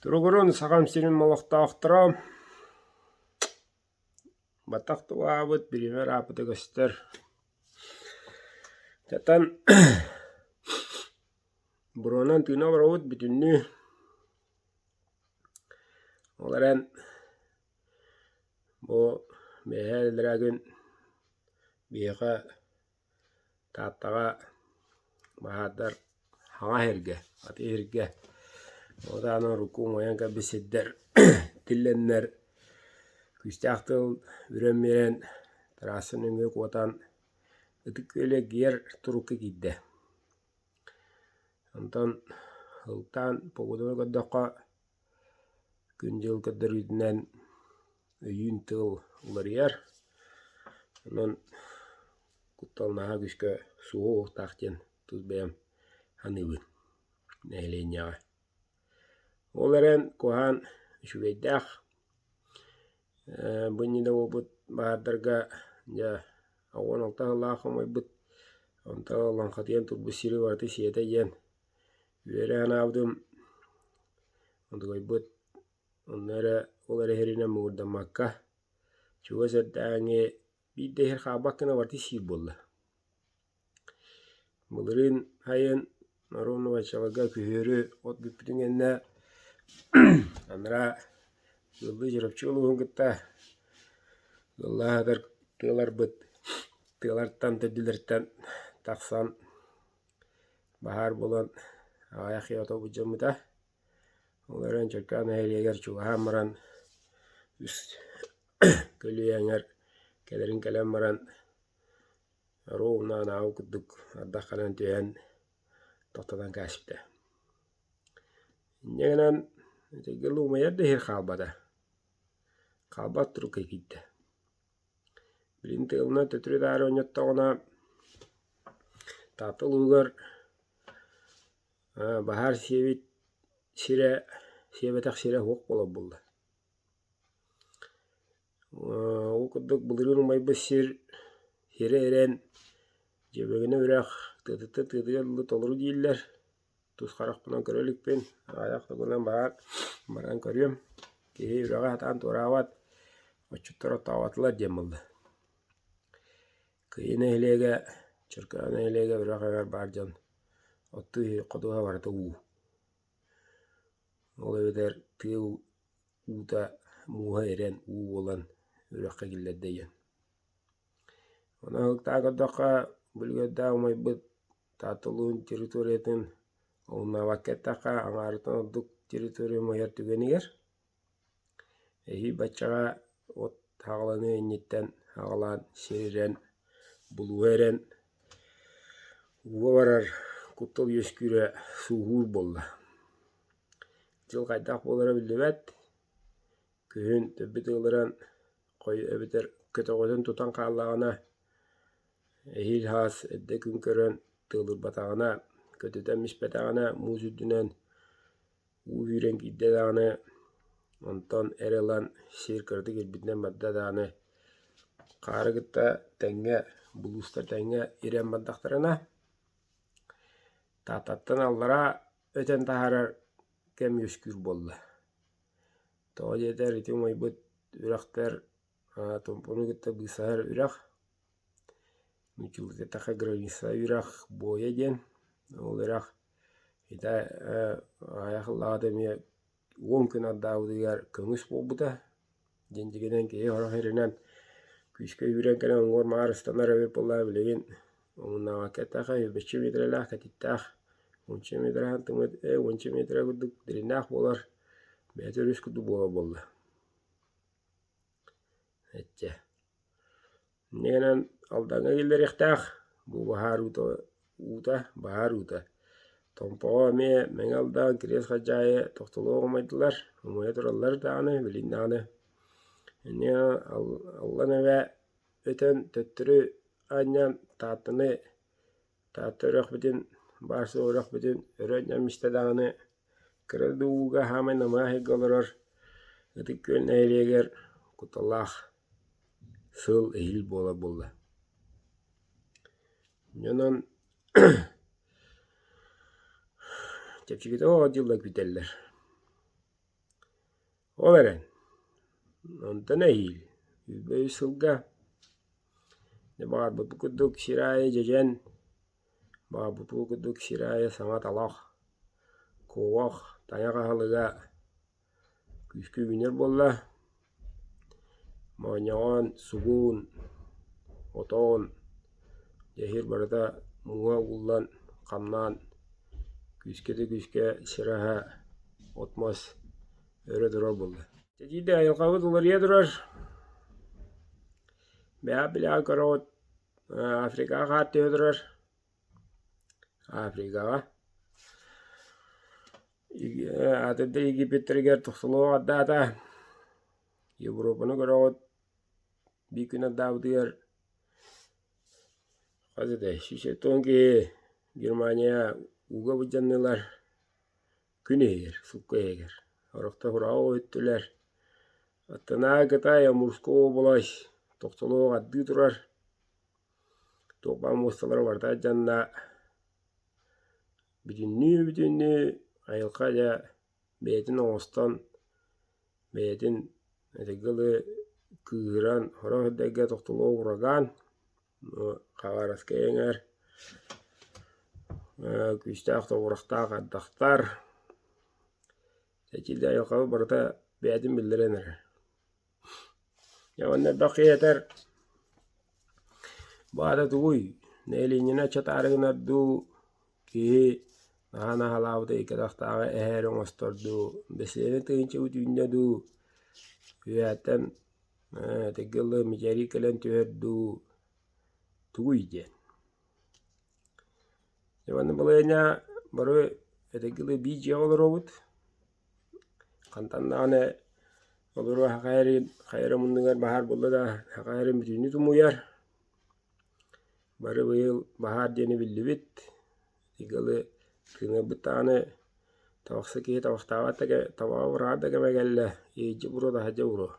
Туругурун сахам сирин олохтоохторо баттах тулаабыт биримэр аапыта көстөр. Тatan буруонан тыына олоробут бүтүннүү. Ол эрэн Бу бэйэһээ дэриэбин биһиэхэ Тааттаҕа баһаардар хаҥа иһиргэ, аты иһиргэ ол таһынан рукку умайан кэлбит сирдэр тиллэннэр күүстээх тыл бүрэн биэрэн трасса нөҥүө куотан Ытык Күөлү эргийэр турукка киирдэ. Онтон Ылтаан погоданы көрдөххө Күн-дьыл көрдөрүүтүнэн өйүүн тыл уларыйар. Онон куттал наһаа күүскэ суоһуохтаах диэн тус бэйэм саныыбын нэһилиэнньэҕэ. Ол эрэн куһаҕан үчүгэйдээх. Бу иннинэ буолбут баһаардарга дьэ оҕуруон алта сыллаах хомойбут, онтон лаҥхатыйан турбут сири барыта сиэтэ диэн Үөрээн аабытым, удугайбыт, онно эрэ ол эрэһиринэн муҥурдаммакка, чугас эрдээҥи биир да иһэр хаалбакка гына барыта сиир буолла. Былырыын сайын Наронна Вачаларга күһүөрү от бүппүтүн кэннэ анараа Ыаллыы Чурапчы улууһун кытта ыаллаһытар тыаларбыт тыалартан, төрдүлэриттэн тахсан Баһаар буолан аҕыйах киһи ото былдьаммыта. Ол эрэн Чөркөөх нэһилиэгэр чугаһаан баран үс көлүйэ эҥэр кэлэрин кэлэн баран оруо уунна анаабы курдук ардах гынан түһэн тохтотон кээспитэ. Инньэ гынан этигги Луумайар да иһир хаалбата. Хаалбат турук киирдэ. Билигин тыалынан төтөрү-таары оонньоттоҕуна, Таатта улууһугар баһаар сиэбит сирэ, сиэбэтэх сирэ суох буолар буолла. Ол курдук былырыын умайбыт сир сири эрэн, дьүөбэгинэ үрэх тыатыттан тыатыгар дылы толору дииллэр. Тус харахпынан көрө иликпин, аҕыйах да гынан баҕар баран көрүөм, киһи үрэҕи сатаан туораабат, отчуттар оттооботулар диэн буолла. Кыайыы нэһилиэгэ, Чөркөөх нэһилиэгэ үрэҕигэр баар дьон оттуу ходуһа барыта уу. Ол эбэтэр тыа уута мууһа ирэн уу буолан үрэххэ киллэрдэ диэн. Аналыктаах көрдөххө, бу үлүгэрдээх умайбыт Тааталуун территориятын ылынаабакка эттэххэ, аҥаарын ордук территория умайар түгэнигэр эһии баччаҕа от хаҕыланыы инниттэн хаҕылаан, сир ирэн, булууһа ирэн, ууга барар куттал үөскүүрэ сууһуур буолла. Дьыл хайдах буолара биллибэт. Күһүн төббүт ыылыран хой эбэтэр көтөҕөтүн тутан хааллаҕына, эһиил һаас эрдэ күн көрөн тыалырбатаҕына, көтүтэн испэтэҕинэ муус үрдүнэн уу үүрэн киирдэ даҕаны, онтон эрэ ылан сиэр кыратык ирбитинэн барда даҕаны, хаары кытта тэҥҥэ, булуустар тэҥҥэ ирэн бардахтарына, Тааттаттан аллараа өтөн таһаарар кэм үөскүүр буолла. Тоҕо диэтэр ити умайбыт үрэхтэр томпону кытта быысаһар үрэх, нууччалыы эттэххэ граница үрэх, Буойа диэн. Ол үрэх ити аҕыйах ыллаҕына эмиэ уон күн ардаабытыгар көҥүс буолбута. диэн тигинэн киһи оһоһеринэн күүскэ үүрэн кэлэн уҥуор маҕар ыстанар эбит буоллаҕа билигин омуннаҕа кэтэх эһи бичи миитэрэлээх кэтиттээх уонча миитэрэһин тымыт ээ уонча миэтэрэ курдук дириҥнээх буолар бэйэтэ өрүс курдук буолар буолла ачча Иннинэн Алдаҥҥа киллэриэхтээх, бу баһаар уута уута баһаар уута. Томпоҕо эмиэ Мэҥэ Алдан, Кириэс Хадьаайы тохтоло оҕумайдылар, умайа тураллар даҕаны, билигин даҕаны. Иннинэ Аллан эбэ өтөн төттөрү анньан Тааттаны Таатта үрэхпитин, Барсу үрэхпитин өрө ньэмистэ даҕаны, кыра да ууга хаамай намыһах ыйга олорор Ытык Күөл нэһилиэгэр куталаах сыал иһил буола буолла. Онон чэпчэкитик оҕо дьыллар бүтэллэр. Ол эрэн, онтон эһиил үбү сылга баҕарбыппыт курдук сир аайы дьэдьэн, баҕарбыппыт курдук сир аайы саҥа талах, куобах, тайах аһылыга күүскэ үүнэр буолла. Моонньоҕон, сугуун, отоон Эһиил барыта мууһа ууллан, хамнаан, күүскэ да күүскэ сир аһа, от-мас өрө турар буолла. Этиитэ айылҕабыт уларыйа турар. Бэйэ билэҕи көрөҕүт Африкаҕа хаар түһэ турар. Африкаҕа атын да Египеттэригэр тохтолуох ардаата. Европаны көрөҕүт Биир күнү Даабытыгар хас этэй шестьдесят он киһи Германия ууга былдьаннылар. Күн иһигэр, сукка иһигэр. Орохтор ураҕа өттүлэр. Аттанааҕы Кытайга мужская область тохтолуох ардыы турар. Туох баҕа муосталара барыта алдьанна. Бүтүннүү-бүтүннүү айылҕа дьэ бэйэтин оҥостон, бэйэтин этэҥҥэ дылы кыыһыран, сорох эрдэргэ тохтоло ураган, хаҕараскай эҥэр, күүстээх тоҕурахтаах ардахтар, этиилээх айылҕабыт барыта бэйэтин биллэрэн эрэр Дьэ уонна элбэх киһи этэр «Баата тугуй? Нэилиэнньэни аччатаары гынар дуу, киһи наһаа наһалаабыта икки атахтааҕы эһээри оҥостор дуу, бэссиэдэ тыһыынчабыт үүннэ дуу, үөһэттэн этиргэ ыллыгын мичээрий кэлэн түһэр дуу, тугуй?» диэн. Иваны балайыанньа бары эдэрги дылы биир дьиэҕэ олоробут. Хантан даҕаны олору хахайарыын хайара муннугар баһаар буолла да хахайарын бүтүннүү тумуйар. Бары быйыл баһаар диэни биллибит. Игалы тыынарбыт даҕаны табахса киһи табахтаабат да кэ табаҕа быраҕар да кэмэ кэллэ, иһирдьэ буруо таһырдьа буруо.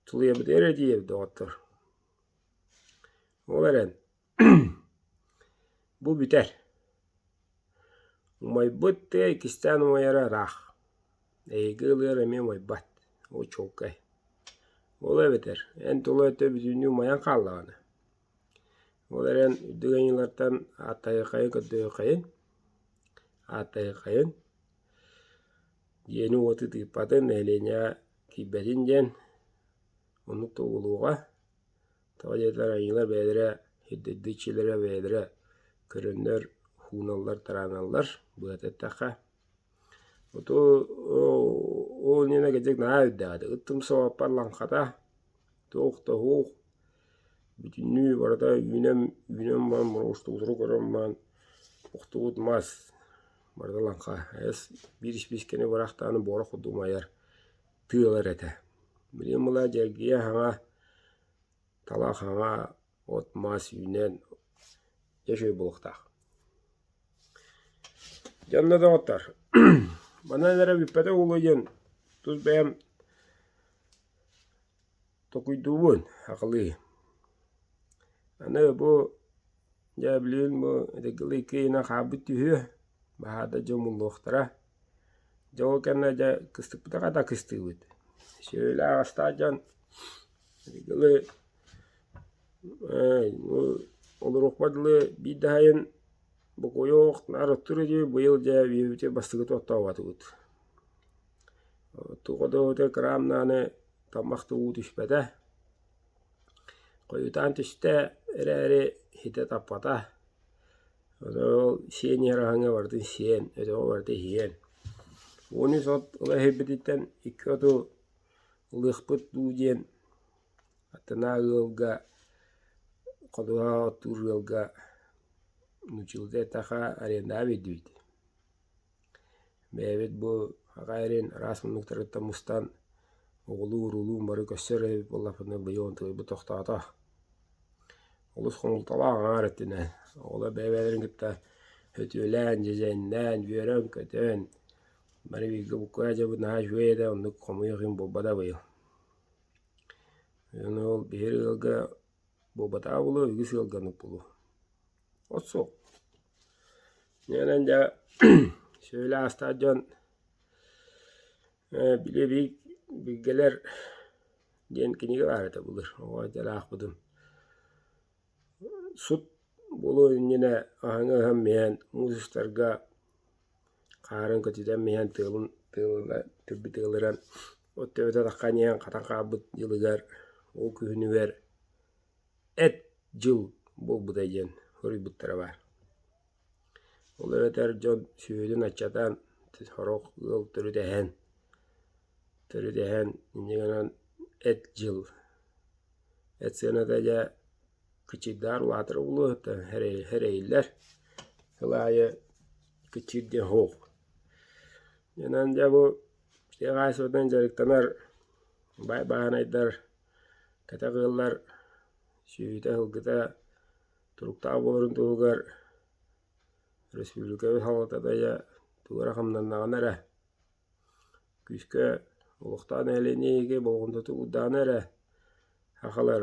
Тулуйабытыгар эрдийэбит доҕоттор. Ол эрэн бу бүтэр. Умайбыт тыа иккистээн умайара ыраах. Эһиги ылыгар эмиэ умайбат. Ол чуолкай. Ол эбэтэр эн тула өттө бүтүннүү умайан хааллаҕына. Ол эрэн үрдүк айылҕаттан ааттайыххайын көрдөһүөххэйин. Ааттайыххайын. Дьиэни уот ытыыппатын, нэһилиэнньэ киирбэтин диэн, ону тобулуоҕа. Тоҕо диэтэр айыылар бэйэлэрэ ирдэбил дьиэлэрэ бэйэлэрэ көрөннөр ууналлар, тарааналлар, быһата эттэххэ. Оту ол иннинэ кырдьык наһаа үрдэҕэ. Ыттым соҕотох лаҥхата, туох да уһуох. Бүтүннүү барыта үүнэн, үүнэн баран муравушка утугу көрөн баран, охтубут мас. Барыта лаҥха, эс, биир испиискэни быраах даҕаны буора кудум айар тыы ылар этэ. Билигин мыла дьэргийэ хаҥа, талах хаҥа, от маас үүнэн, дьэ үчүгэй буолуохтаах. Дьэ онно да оҥоттор манан эрэ бүппэтэх буолуо диэн тус бэйэм Токуйдубун акылыы аны бу дьэ билигин бу итинкилии киинэ хаалбыт түһүө баһаата дьэ умуллуохтара дьэ ол кэннэ дьэ кыстыкпытыга да кыстыыбыт сүөһүлээх астаах дьон итинкили бу олоруохпа дылы биир да сайын бокуойуох наар оттуруй дии быйыл дьэ биһиэхэ бастакы туоттаабатыбыт Тугу да граммнааны тамах да уу түспэтэ, хойутаан түстэ эрээри иһитэ таппата, ону ол сиэн иһэр аһыҥа барытын сиэн, өтөҕү барыта иһиэн. Ууну сот ыла иһирбититтэн икки оту ылыахпыт дуу диэн аттынаа ыалга, ходуһа оттуур ыалга нуучилата этаха аренда биэрдибит. Бэйэбит бу аҕа эрин араас муннуктарыттан мустан оҕолуу-уруулуу бары көрсөр эбит буоллахпытына быйыл онтубайбыт тохтоото. Олус хомолтолоох аҥаар өттүнэн оҕолор бэйэ-бэйэлэрин кытта өтүөлээн, дьэдьэннээн, үөрэн-көтөн бары бииргэ буккуйа дьабыт наһаа үчүгэй этэ оннук хомуйуох иһин буолбата быйыл. Аны ол биһиги ыалга буобатаабылы үгүс ыалгаммыт булу. От суох. Нээнэн дьэ сөбүлэ аастаат дьон били бии билгэлэр диэн кинигэ баар этэ былыр. Оҕо дьэ аахпытым. Сут булу иннинэ аһыҥа ыһан миээн музыстарга Хаарын көтүтэн миһэн тыалын тыалыла- түрбүт ыалыран, от төбөтө тахха ньиэһэн хатан хаалбыт дьылыгар, ол күһүнүгэр «эт дьыл буолбутай» диэн хоруйбуттара баар. Ол эбэтэр дьон сүөһүтүн аччатан, сорох ыал төрүт эһэн, төрүт эһэн инньэ гынан «эт дьыл», эт сыаната дьэ Кычыйдаар улаатар улууһуттан эрэйиллэр сыл аайы Кычыйдэ Оһуол. Онон дьэ бу дьиэ хаачыстыбатынан дьарыктанар баай бааһынайдар, кэтэх ыаллар сүөһүтэ-сылгыта туруктаах буоларын туһугар республикабыт салалтата туора хамнаннаҕына эрэ, күүскэ олохтоох нэһилиэнньэ ийиги болҕомтотук уурдаҕына эрэ сахалар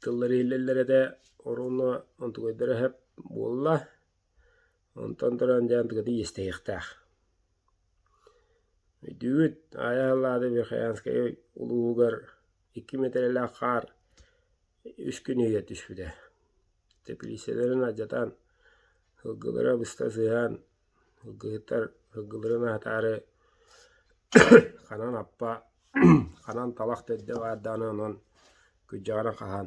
Тыллар иһиллэллэрэ да оруонна онтугуйдара сөп буолла. Онтон туран дьэ андыгытыы иэстэһиэхтээх. Өйдүүбүт Аайа Халлаада Верхоянскайы улууһугар икки мэтээллээх хаар үс күн иһигэр түспүтэ. Тэпилииссэлэрин алдьатан, сылгылара быста сыыһаан Ыргыһыттар ыргыларын аһатаары ханан аппа, ханан талах да эрдэ баардаҕына онон күрдьэҕинэн хаһан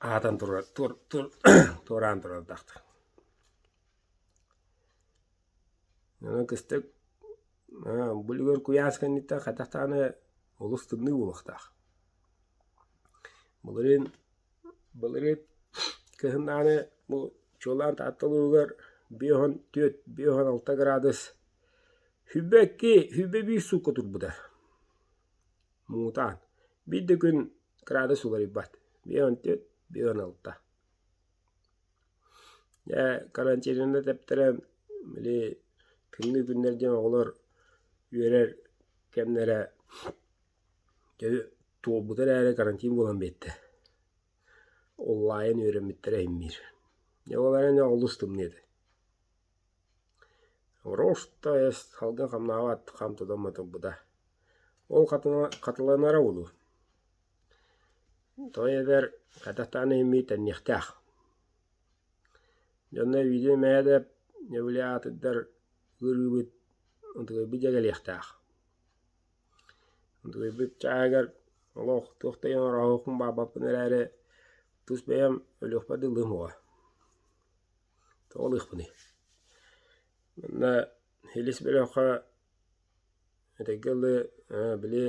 аһатан туруор туор туор туораан турардахтар. Онон кыстык бу үлүгэр куйаас кэнниттэн хайдах даҕаны олус тымныы буолуохтаах. Былырыын Былырыын кыһын ааны бу чуолаан Таатта улууһугар биэс уон түөрт, биэс уон алта градус хүйбэкки, хүйбэ биир суукка турбута. Муҥутаан. Биир да күн кыраадыс уларыйбат. Биэс уон түөрт, биэс уон алта. Дьэ карантинаны тэптэрэн били күннүү күннэр диэн оҕолор үөрэр кэмнэрэ Дьэ туолбута эрээри карантин буолан биэрдэ. Онлайн үөрэммиттэрэ иһиммиир. Дьэ ол эрэн олус тымныы этэ. Роста эс салгын хамнаабат хам тутамма турбута. Ол хатыланара буолуо. Той эбэр хатахтаан иһиммит тэнниэхтээх. Дьонно видео мэһэдэ нэбилэ аатыттар ыырыыбыт ытыгыйбыт дьэгэлиэхтээх Утуйбут чааһыгар олох туох да ийэм ороһуокун баабаппын эрээри, тус бэйэм өлүөхпэр дыллыым уҕа. Тоҕо ылыахпыный? Манна илис бөлөххө этэҥҥэ дылы били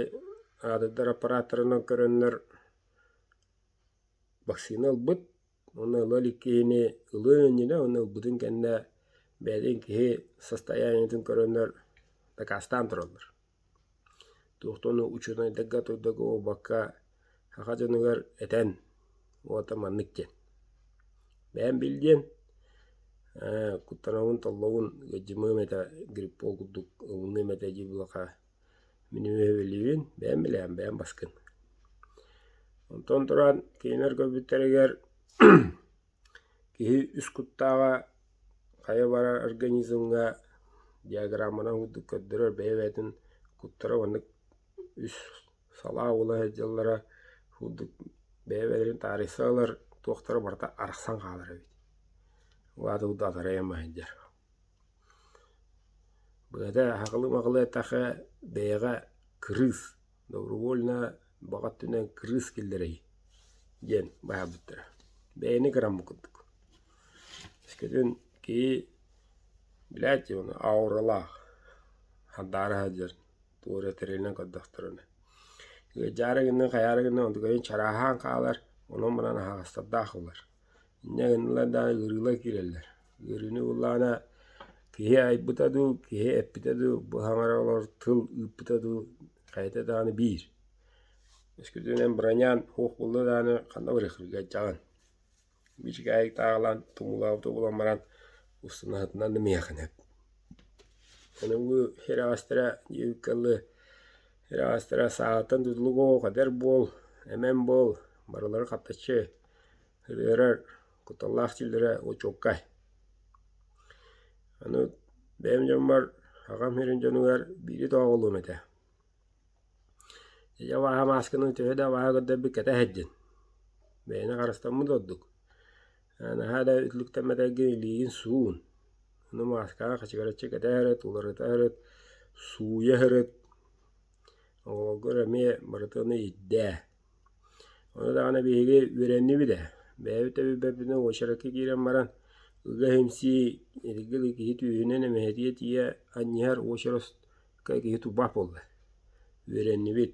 аадырдар аппарааттарынан көрөннөр вакцина ылбыт. Уонна ыла илик киһини ылыан иннинэ уонна ылбытын кэннэ бэйэтин киһи состояниетын көрөннөр дакаастаан тураллар. Туохтан да учуонайдарга, тойдорго, уобакка саха дьонугар этэн уота маннык диэн: «Бэйэм бил диэн, куттанабын, толлобун, ыалдьымыам этэ, гриппол курдук ылыныам этэ дии булаха Мин үөһэбиллиибин бэйэм билэҕин, бэйэм баскын. Онтон туран кинилэр көрбүттэригэр киһи үс куттааҕа хайа барар организмҥа диаграмманан курдук көрдөрөр бэйэ-бэйэтин куттара маннык үс салаа буола сылдьаллара курдук бэйэ-бэйэлэрин таарыйса ылар туохтара барыта арахсан хаалар эбит. Угаатык да атарайан ма сылдьар Быһата аһаҕлыы-маҕлыатахха бэйэҕэ кырыыс, добровольно баҕа өттүнэн кырыыс киллэрэй диэн баһаарбыттара. Бэйэни кыраммыт курдук. Өскөтүн киһи билээт дии ону ауралаах handaara сылдьар туора тэрилинэн көрдөхтөрүнэ. Ыалдьаары гынна, хайаары гынна онтукайын чарааһаан хаалар, онон-манан аһаҕастардаах буолар. Инньэ гыннылар даҕаны ыарыылар киирэллэр Үөрүүнү ыллаҕына киһи айбыта дуу, киһи эппитэ дуу, бу хаҥара олорор тыл ыыппыта дуу хайата даҕаны биир. Өскөтүнэн бронян суох буолла даҕаны ханна барыахпыт кырдьаҕын. Бичик аайык тааҕылаан тумуулаабыта буолан баран устунаһытынан да миһиэхэ сөп. Онуоҥҥу ирэҕэстэрэ диэбиккэ дылы ирэҕэстэрэ саатан тутулук оо, кадэр буол, эмэн буол, барылары хаптаччы ырыарар кутталлаах дииллэрэ очуоккай. Аны бэйэм дьоммор аҕам сирин дьонугар биири дооҕулуум этэ. Ийэ абааһы маасканы төһө да абааһы көрдөрбүт кэтэ сылдьын, бэйэни харыстаммыт ордук. Наһаа да үтүлүктэммэтэргин илиигин суун. Аны мааскаҕа хачыгараччы кэтэ сырыт, уларыта сырыт, сууйа сырыт. Оҕолоргор эмиэ барытыны ирдээ. Ону даҕаны биһиги үөрэннибит ээ, бэйэбит да билбэппитинэ уочаракка киирэн баран ыга-эмсии эргил киһи түөһүнэн эмэһэтийэ тиийэ анньыһар уочараска киһи турбаат буолла. Үөрэннибит.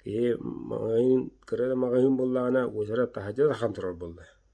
Киһи маҕаһыын, кыра да маҕаһыын буоллаҕына уочарат таһырдьа тархан турар буолла.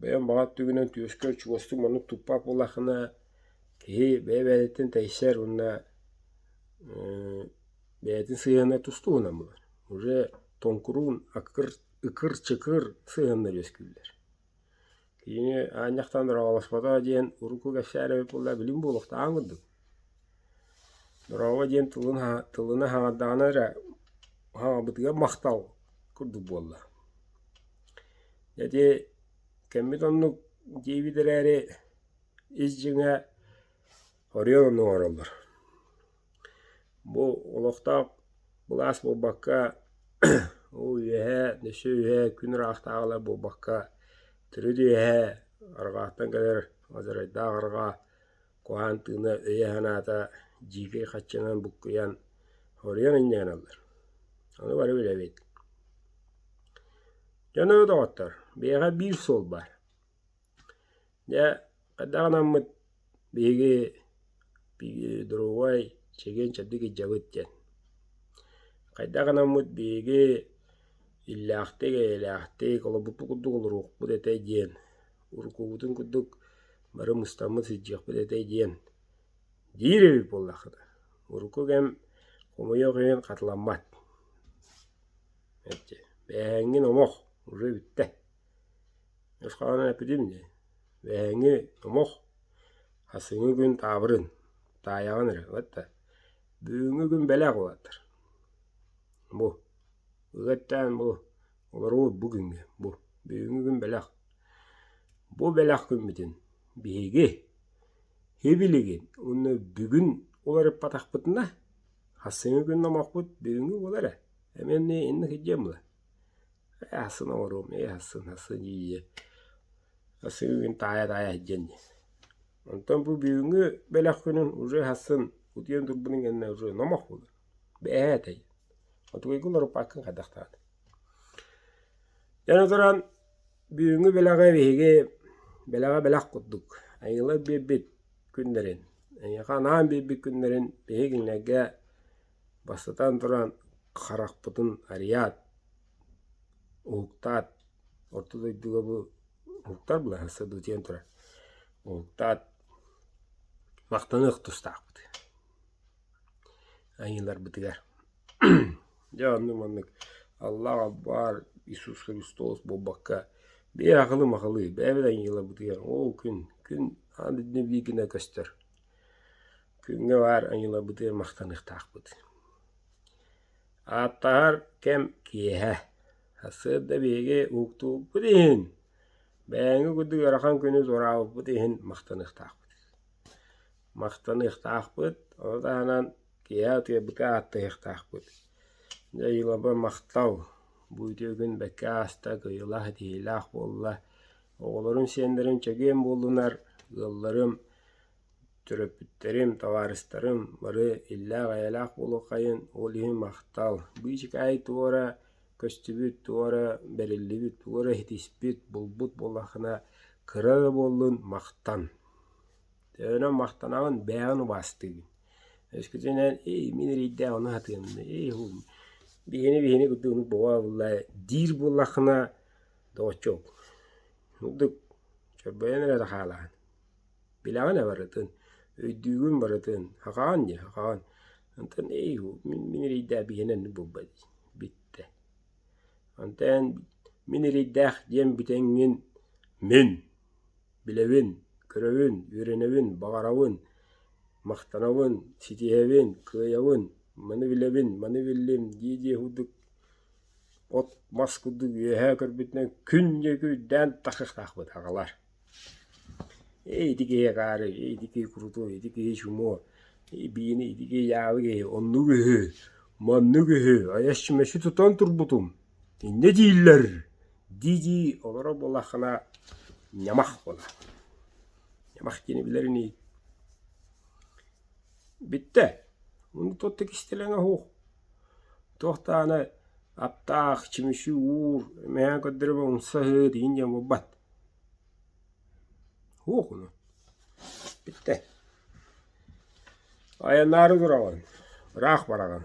Бэйэм баҕа өттүгүнэн түөскэ чугастык маннык туппат буоллаххына, киһи бэйэ-бэйэтиттэн тэйсэр уонна бэйэтин сыһыаннара тус туһунан буолар. Уже тоҥкуруун ыкыр-чыкыр сыһыаннар үөскүүллэр. Кини аанньахтан ураҕаласпата диэн урукку кэпсээн эбит буоллар, билим буолуохтааҕын курдук. Дорообо диэн тылын аһа- тылын аһаҕатаҕына эрэ аһаҕабытыгар махтал курдук буолла. Ити кэммит оннук диэбит эрээри ис дьиҥэ оройуон оннук оҥороллор. Бу олохтоох былаас буолбакка ол үөһэ өссө үөһэ күн ыраахтааҕылар буолбакка төрүт үөһэ арҕааттан кэлэр азарайдаах арҕаа Куһаан тыына өйө-санаата дьиикэй хаччанан буккуйан, хоруйан инньэҕинэллэр. Аны бары билэбит. Дьоно доҕоттор, биһиэхэ биир суол баар. Дьэ, хайдах анаммыт биһиги другой чэгиэн чэбдик илдьэбит диэн. Хайдах анаммыт биһиги иллээхтик, эйэлээхтик, олорбуппут курдук олоруохпут этэ диэн, уруккубутун курдук бары мустаммыт сидьиэхпит этэй диэн диир эбит буоллаххыта урукку кэм хомойуох иһин хатыламмат мэлдьи бээһэҥҥин омох уже бүттэ ньусхаҕынан эппитим дии бээһэҥи омох хасыҥы күн таабырын таайаҕын эрэ вот да бүгүҥҥү күн бэлэх улаатар бу ыга эттээн бу Олоруоҕут бу күҥҥэ, бу. Бүгүҥҥү күн бэлэх. Бу бэлэх күммүтүн биһиги һи-билигин уонна бүгүн уларыппатахпытына, хассыҥы күн номохпут бүгүҥҥү буолар ээ. Эмиэнэ иннэ сылдьыам була. Ээ хассыны оҥоруом, ээ хассыны, хассыны дьиэ-дьиэ. Хассыҥы күн таайа-таайа сылдьыан диэн. Онтон бу бүгүҥҥү бэлэх күнүн уже хассын утуйан турбутун кэннэ уже номох буолар. Бээ этэй, хотугуйга уларыппаккын хайдахтаҕыт? Эн отуран бүгүҥҥү бэлэҕи биһиги бэлэҕэ бэлэх курдук айыылар биэрбит күннэрин, эйиэхэ анаан биэрбит күннэрин биһиги кинилэргэ бастатан туран харахпытын арыйаат, уһуктаат, орто дойдуга бу уһуктар былаһа өссө дуу диэн турар, уһуктаат, махтаныах тустаахпыт. Айыыларбытыгар дьэ оннук маннык Аллах аббаар Иисус Христос буолбакка биир ахылы-махылы бэйэбит айыыларбытыгар ол күн күн аан дойду бииргинэ көстөр күҥҥэ баар айыыларбытыгар махтаныахтаахпыт. Ааттаһар кэм киэһэ сырда биһиги уктуубут иһин бэйэҥи курдук ыарахан күнү туораабыппыт иһин махтаныахтаахпыт. Махтаныахтаахпыт, ол таһынан киэһэ утуйарбытга ааттаһыахтаахпыт. Дьайыылаба махтал, бу үтүөгүн бэккэ ааста, кыайыылаах этиһиилээх буолла. Оҕолорум сиэннэрим чэгиэн буоллунар, ыалларым, төрөппүттэрим, табаарыстарым бары иллээх-эйэлээх буолуоххайын, ол иһин махтал. Быычыкаай туора көстүбүт, туора бэриллибит, туора иһитиспит, булбут буоллаххына кыра да буоллун, махтан. Төөнөн махтанаҕын, бэйэҕин убаастыыгын. Өскөтүнэн «Эй, мин эрэйдээх ону сатыам да, эй, уһу, биһини биһини курдук оннук бобоо буолла ээ» диир буоллаххына, доҕоччуок, ордук чорбойон эрэ хаалаҕын. Билэҕин ээ барытын, өйдүүгүн барытын, хахаҕын диэ, хахаҕын. Онтон «Эй, уһу, мин мин эрэйдээх биһиэнэ оннук буолба дии» бүттэ. Онтон «Мин эрэйдээх» диэн бүтэҥҥин мин Билэбин, көрөбүн, үөрэнэбин, баҕарабын, махтанабын, ситиһэбин, кыайабын, маны билэбин, маны биллим, дии-дии курдук от мас курдук үөһээ көрбүтүнэн күн диэки үрдээн тахыахтаахпыт аҕалар. Ити киһи акаары, ити киһи куруту, ити киһи чумо, биини, ити киһи яалы киһи, оннук үһү, маннык үһү, айас чүмэчи тутан турбутум, иннэ дииллэр дии-дии олоро буоллаххына ньамах буола. Ньамах диэни билэр ини бүттэ. Ону туохта кистэлэҥэ оһуох. Туохтаана аптаах, чүмүчү уур, мэйэн көрдөрө умсаһыт, иһин диэн буолбат. Оһуох ону. Бүттэ. Айаннаары тураҕын, ыраах бараҕын.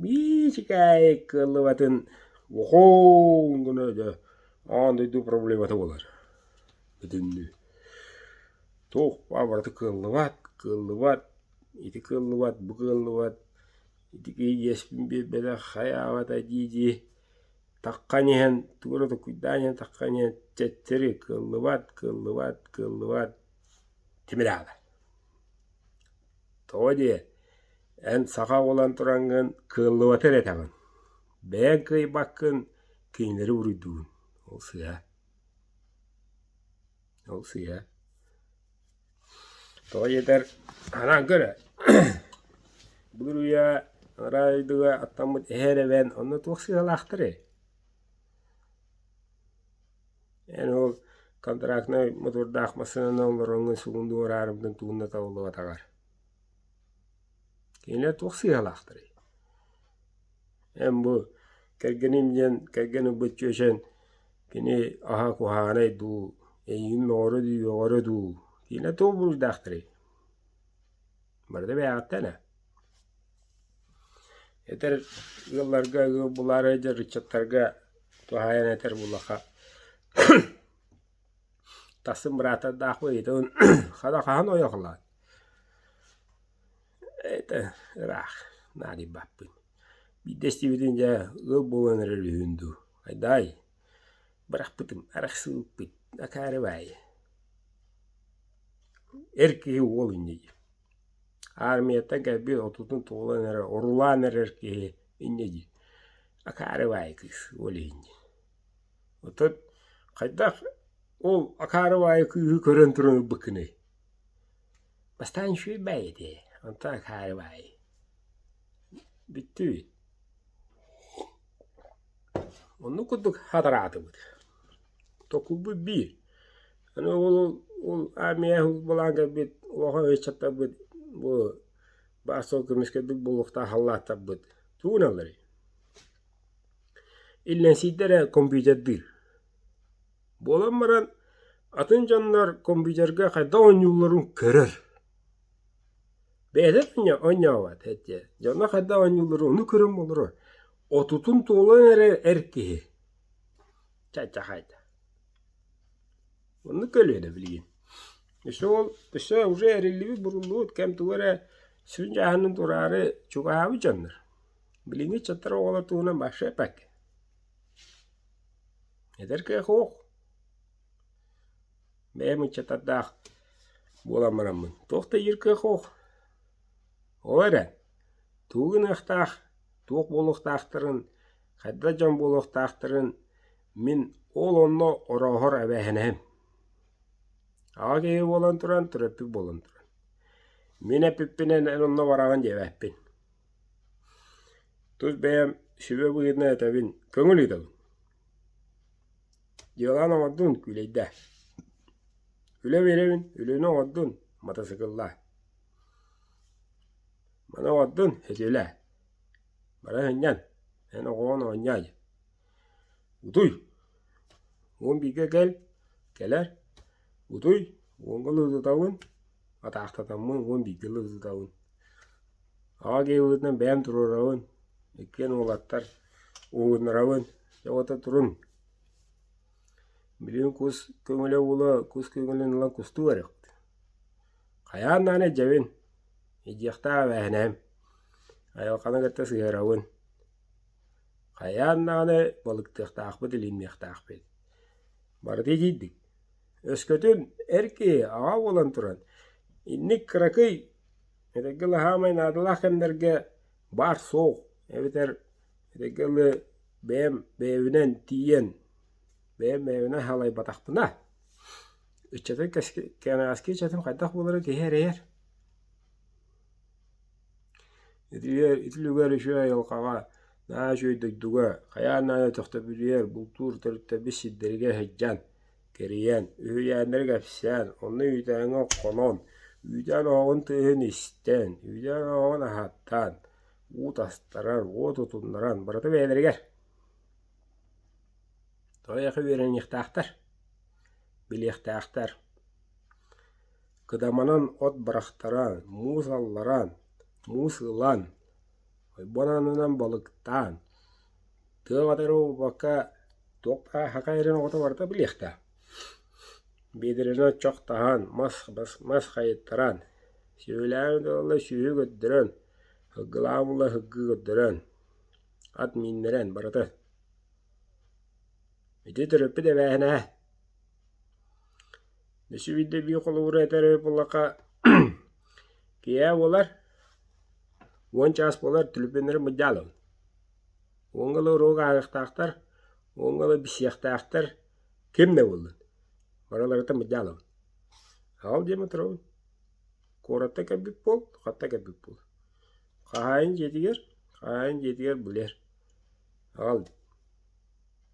Биир сикээйи кыаллыбатын ухуун гына өтө аан дойду проблемата буолар итиннии. Туох-баа барыта кыаллыбат, кыаллыбат, ити кыаллыбат, бу кыаллыбат, ити киһи иэспин биэрбэтэх, хайаабата дии-дии таххан иһэн тугу эрэ токуйдаан иһэн таххан иһэн чэччэри кыаллыбат, кыаллыбат, кыаллыбат тимир аата. Тоҕо диэ, эн саха буолан тураҥҥын кыаллыбаты эрэ этэҕин, бэйэҥ кыайбаккын кинилэри уруйдугун, ол сыыһа. Ол сыыһа. Тоҕо диэтэр, анаан көрө Бүлүрүйэ Араа дойдуга аттаммыт эһэр эбэн онно туох сыыһалаахтарый? Эн ол контрактнай мотуордаах массыынаны оҥороҥҥун сугун дуу араарымгын тугунна табыллыбатаҕар. Кинилэр туох сыыһалаахтарый? Эн бу кэргэним диэн кэргэн ылбыт чүөчэн кини аһа куһаҕанай дуу, эйигин мөҕөрө дуу, үөҕөрө дуу, кинилэр туох буруйдаахтарый? Барыта бэйэҕиттэн ээ. Этэр ыалларга ыал булаар эдэр ыччаттарга туһаайан этэр булаха тассын быраатардаахпын ыйытабын хата хаһан ойохлоот это ыраах наадыйбаппын биирдэ истибитин дьэ ыал буолан эрэр үһүн дуу хайдаай Бырахпытым арахсыы ыппыт акаары баайы эр киһи уол инньэ Аармыйаттан кэлбит отутун туолан эрэ орулаан эрэр киһи инньэ дии акаары баайы кыыс уол иһиннэ оттон хайдах ол акаары баайы кыыһы көрөн туран ылбыккыный бастаан үчүгэй баай этэ онтон акаары баайы бүттүбүт Оннук курдук хатараатыбыт. Токуйбут бии. Аны ол ол армия былаан кэлбит улахан ыччаттарбыт бу баар суол көмүскэлбит буолуохтаах халлааттарбыт тууналларый? Иллэҥсийдэ эрэ комбиитэрдиир. Буолан баран атын дьоннор комбиитергэ хайдах оонньуулларын көрөр Бэйэтин оонньообот эдьиэ, дьоно хайдах оонньууллара ону көрөн буолара отутун туолан эрэ эр киһи чаччахай да. Оннук көлүө да билигин. Өссө ол өссө уже эриллибит буруллубут кэм тугу эрэ сүрүн дьааһынын туораары чугаһаабыт дьоннор билиҥҥи ыччаттар оҕолор туһунан вообще эппэккэ. Эдэр киһи суох. бэйэм ыччатардаах буолан бараммын, туох да иир кыах-уох. Ол эрэн, тугу гыныахтаах, туох буолуохтаахтарын, хайдах дьон буолуохтаахтарын мин ол онно орооһор эбээһинэһим. Аҕа киһи буолан туран, төрөппүт буолан туран. Мин эппиппинэн эн онно бараҕын диэбэппин. Тус бэйэм сүбэ быһыытынан этэбин, көҥүл ыытабын. Дьыаланы оҥордун, күүлэйдээ. Үлэ биэрэбин, өлүөнэ оҥордун, матасыкыллаа. Маны оҥордун, өтүөлээ. Баран сынньан, эн оҕоҕун оонньоой. Утуй! Уон бииргэ кэл, кэлэр. Утуй, уонга ылытытабын, атаахтатаммын уон бииргэ ылытытабын. Аҕа киһибитинэн бэйэм туруорабын, иккиэн уолаттар уугуннарабын. Дьэ уота туруҥ. Билигин кус көҥүлэ уула кус көҥүлүн ылан кустуу барыахпыт. Хайаан даҕаны дьэбин, иһдиэхтээх эбээһинэһим. Айылҕаны кытта сыһыарабын. Хайаан даҕаны балыктыахтаахпыт, илиинниэхтээхпит. Барыта итийдик. Өскөтүн эр киһи аҕа буолан туран инник кыракый Этэйгэлэһаамай наадалаах кэмнэргэ баар суол эбэтэр этэйгэ ылы бэйэм бэйэбинэн тиийэн бэйэм бэйэбинэн халайбатахпына ыччатын кэнэҕэски ыччатым хайдах буолара киһи эрэйэр. Ити үлүгэр үчүгэй айылҕаҕа наһаа үчүгэй дойдуга хайаан наада төхтөбүлүйэр бултуур төрүттэбит сирдэригэ сылдьан кэрийэн, үһүйээннэри кэпсээн, онно үүтээҥҥэ хонон, үүтээн оһоҕун тыаһын истэн, үүтээн оһоҕун аһаттаан, уу тастарар, уо тутуннаран, барыта бэйэлэригэр. Тоойохо үөрэниэхтээхтэр, билиэхтээхтэр. Кыдаманан от барахтара муус алларан, муус ылан, Ойбон аннынан балыктаан, тыал атары уоппакка туох саха эрин оҕото барыта билиэхтээх. Биэдэрэни оччохтоһон, мас бас мас хайыттаран, сүөһүлээҕи ыталла сүөһү көрдөрөн, һылгылааҕы булла һылгы көрдөрөн, ат мииннэрэн барыта. Ити төрөппүт эбээһинэһэ. Несүбийдэ эбии холобуру этэр буоллахха, киэһэ буолар, уон чаас буолар түлүпүөннэри мыдьаалабын. Уонга ыла уруок ааһыахтаахтар, уонга ыла билсиэхтээхтэр, ким да буоллун, барыларыттан мыдьаалабын. Ол диэн оторобун. Куоракка кэлбит буол, хатта кэлбит буол. Хаһаайын дьиэтигэр, хаһаайын дьиэтигэр булэр. Ол дии.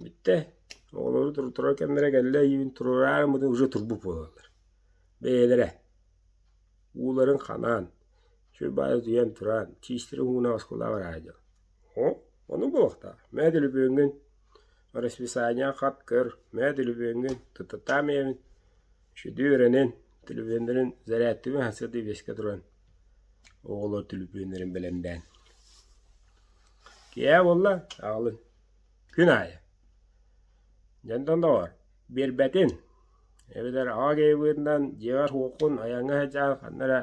Бүттэ, оҕолору туруторор кэмнэрэ кэллэ ийэбин туруораары ыммытын уже турбут буолаллар. Бэйэлэрэ ууларын ханаан, чуйбаары утуйан тураан, чиистэрин ууна оскулаах араара дьон. Оо, ону буолуохтаах, мөөдөлүбүөҥҥүн расписание хат көр, мөөдөлүбүөҥҥүн, тутатаам ийэбин сүдүү үөрэнэн, төлөпүөннэрин зарядтыбын сарсыарда биэскэ туран оҕолор төлөпүөннэрин бэлэмнээн. Киэһэ буолла аҕалын Күн аайы. Дьэнтэн доҕор, биэрбэтин. Эбэтэр аҕа киһи быһыытынан дьиэҕэр-уоккун айаҥҥа сылдьан ханна эрэ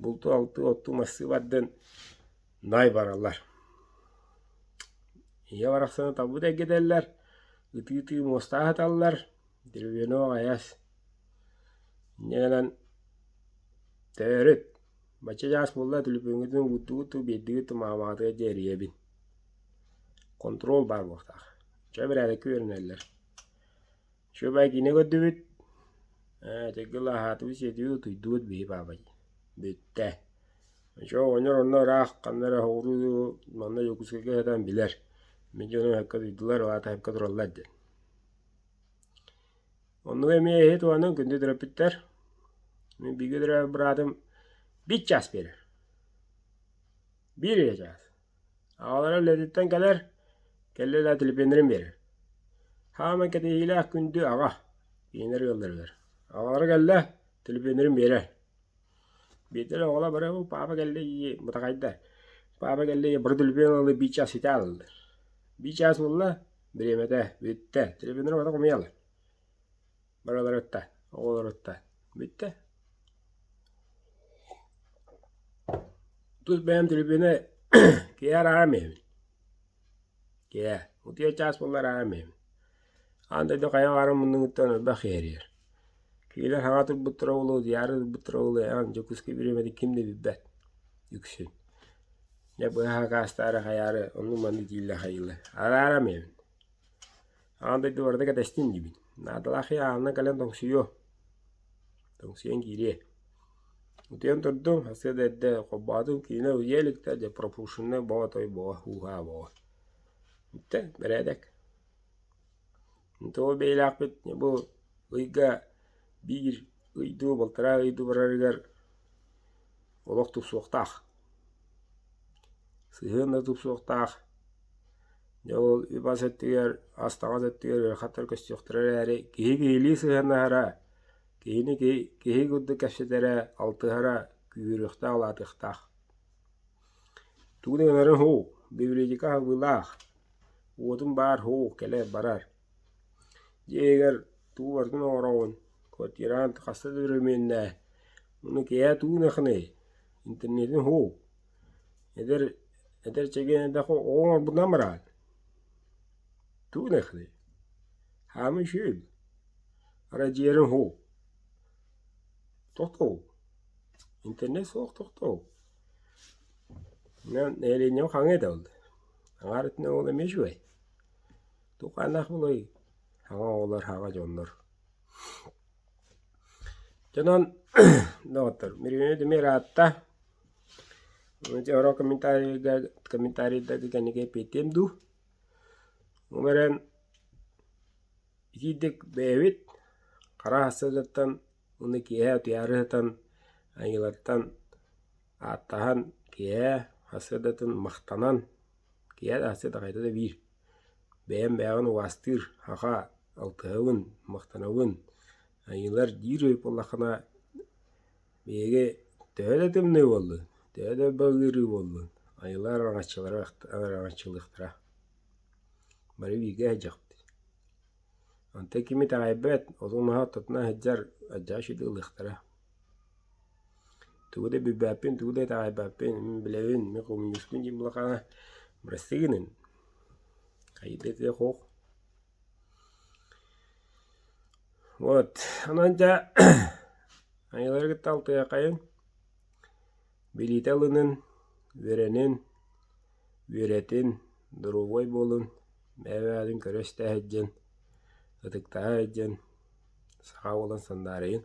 булту-алты отту мастыы бардын наай бараллар. Ийэ барахсаны табыт эргитэллэр, ытыы-ытыы муостаа сыталлар, деревенок аҕыйас. Инньэ гынан төрүт, бачча чаас буолла түлүпүҥҥүтүн кууттугуттуу биирдигит маамаҕытыгар диэри ийэбин Хонтуруол баар буолуохтаах. Чэ бэрээдэккэ үөрэнэллэр. Чүөбай киинэ көрдүбүт, ээтигги ылааһаатыбыт, сиэтибит, утуйдубут, биһи паапа дии. Бүттэ. Чэ оҕонньор онно ыраах ханна эрэ оһоҕуруу манна Дьокуускайга сытан билэр. Мин дьону өһөккө туйдулар, аата өһөккө тураллар диэн. Оннуга эмиэ эһи туһанан күндү төрөппүттэр. Мин бииргэ төрөөбүт быраатым биир чаас биэрэр. Биир үйэ чаас. Аҕалара үлэтиттэн кэлэр, кэллэ да телепиэннэрин биэрэр. Хааман кэтэһиилээх күндү аҕа, кинилэр ыалларыгар. Аҕалара кэллэ, телепиэннэрин биэрэр. Биирдэ оҕолор бары «Оо, паапа кэллэ дии, мутахайдар, паапа кэллэ дии, бары телепиэнэ ыллы, биир чаас ситэ ааллылар». Биир чаас буолла, бириэмэтэ бүттэ, телепиэннэр убата хомуйалар. Барыларыттан, оҕолоруттан бүттэ. Тус бэйэм түрбүнэ киһи араарам эбин. Киһи, утуйа чаас буолла араарам эбин. Аан дойду хайа баарын муннугуттан өлбөх иһэрийэр. Кинилэр саҥа турбуттара болуо, диары турбуттара болуо, ээн Дьокуускай бириэмэтин ким да билбэт. Үксүн. Дьэ быһа акаастаары хайаары оннук-маннык дииллэр хайыылар. Араарам эбин. Аан дойду барыта кэтэстин диибин. Наадалаах ээ аанынан кэлэн тоҥсуйуо. Тоҥсуйан киириэ. Утуйан турдум, сарсыарда эрдэ холбоотум, кинилэр уйа илик да, дьэ пропушеннай боо той боо, һуу-һаа боо. Бүтэ, бэрээдэк. Ntоо бэйэлэахпит бу ыйга биир ыйдуу, балтараа ыйдуу барарыгар олох тупсуохтаах. Сыһыан да тупсуохтаах. Дьэ ол үп-ас өттүгэр, ас-таҥас өттүгэр ыарахаттар көстүөхтэрэ эрээри, киһи киһилии сыһыаннаһара, киһини киһи, киһи курдук кэпсэтэрэ, алтыһара күүрүөхтээх, улаатыахтаах. Тугун гынарын һуу, библиотека аһыллыылаах. Уотум баар һуу, кэлэр барар. Дьиэбигэр тугу барытын оҥороҕун, квартираҥ хаста да өрөмүөннээ, ону киэһэ тугу гыныахыный, интернетин уһук, эдэр эдэр чэгиэн эрдэххэ оҕо оҥорбутунан бараан тугу гыныахыный, хаама үчүгэй, арай дьиэҕин уһук, тохтоһук, интернет суох тохтоһук, населением хаҥыы да ол, аҥаар өттүнэн ол эмиэ үчүгэй. Тухаанах былай саҥа оҕолор саҕа дьоннор Дьонон доҕоттор Мирюня Демир аатта Оро комментарийга комментарийдарды кэннигэ эппиэттиэм дуу умэрэн итиитик бэйэбит хара сылдьаттан уонна киэһэ утуйаары сытан айыылартан ааттаһан киэһэ хас сырдатын махтанан киэһэ да хас сырда хайда да биир Бэйэм бэйэҕин убаастыыр, аха, алтыһабын, махтанабын, айыылар диир буоллаххына, биһиги төһө да тымныы буоллун, төһө да балыырыы буоллун, айылар араҥаччылара араҥаччылыахтара. Бары бииргэ сылдьахпыт. Онтон ким итэҕэйбэт, отун маһа оттотуна сылдьар, алдьаа сүдү ылыахтара. Тугу да билбэппин, тугу да итэҕэйбэппин, мин билэбин, мин хомуньуускун диэн улахана бырастыгыныын. Хайдах ити хоох Вот, онон дьэ айылары кытта алтыһыаххайын, билиитэ ылынын, үөрэнин, үөрэтин, доруобуой буолун, бэйэ-бэйэҕитин көрө-истэ сылдьын, ытыктана сылдьын, саха буолан сандаарыйын.